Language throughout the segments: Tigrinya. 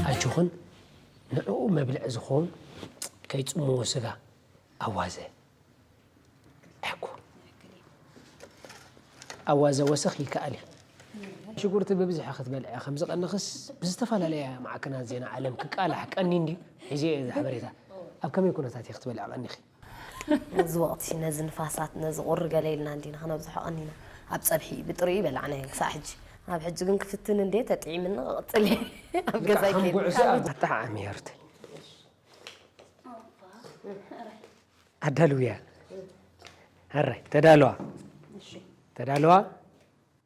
ኣጆኽን ንዕኡ መብልዒ ዝኸውን ከይጽምዎ ስጋ ኣዋዘ ኣሕኩ ኣዋዘ ወሰኽ ይከኣል እዩ ሽጉርቲ ብብዝሒ ክትበልዐ ከም ዝቐንኽስ ብዝተፈላለየ ማዕከናት ዜና ዓለም ክቃላሕ ቀኒ እንዲ ሒዘ እየ ሓበሬታ ኣብ ከመይ ኩነታት እየ ክትበልዐ ቀኒኺ ነዚ ወቕቲ ነዚ ንፋሳት ነዚ ቁሪ ገለ ኢልና እንዲና ክነብዝሖ ቀኒና ኣብ ጸብሒ እዩ ብጥሪኡ ይበላዕናዮ ክሳዕ ሕጂ ኣብ ሕጂ ግን ክፍትን እንዴ ተጥዒምኒ ክቕጽል እየ ኣብ ገዛይ ከም ጉዕዞ ከይደ ኣብ ኣጠዓዓሚ ህይወት ኣዳልውያ ኣራይ ተዳለዋ ተዳለዋ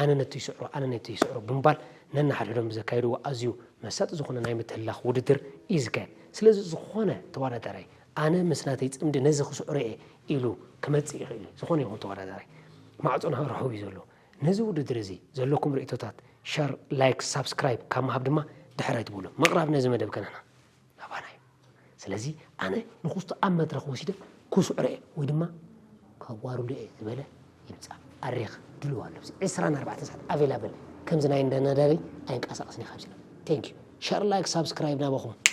ኣነ ነቲ ይስዕሮ ኣነ ነቲ ይስዕሮ ብምባል ነንሓድሕዶም ብዘካየድዎ ኣዝዩ መሳጢ ዝኾነ ናይ ምትህልላኽ ውድድር እዩ ዝካየድ። ስለዚ ዝኾነ ተወዳዳራይ ኣነ ምስ ናተይ ጽምዲ ነዚ ክስዕሮ እየ ኢሉ ክመጽእ ይኽእል እዩ። ዝኾነ ይኹን ተወዳዳራይ ማዕጾና ርሑው እዩ ዘሎ። ነዚ ውድድር እዚ ዘለኩም ርእይቶታት ሸር፣ ላይክ፣ ሳብስክራይብ ካብ ምሃብ ድማ ድሕር ኣይትበሉ። ምቕራብ ነዚ መደብ ከንሕና። ናባና እዩ ስለዚ ኣነ ንኩስቶ ኣብ መድረኽ ወሲደ ኩስዕሮ እየ ወይ ድማ ከዋርዶ እየ ዝበለ ይምፃእ ኣሬክ ድልው ኣሎ ኣብዚ ዕስራን ኣርባዕተን ሰዓት ኣቬላብል ከምዚ ናይ እንዳ ነዳበይ ኣይንቀሳቐስን እየ ካብዚ ቴንክ ዩ ሸር ላይክ ሳብስክራይብ ናባኹም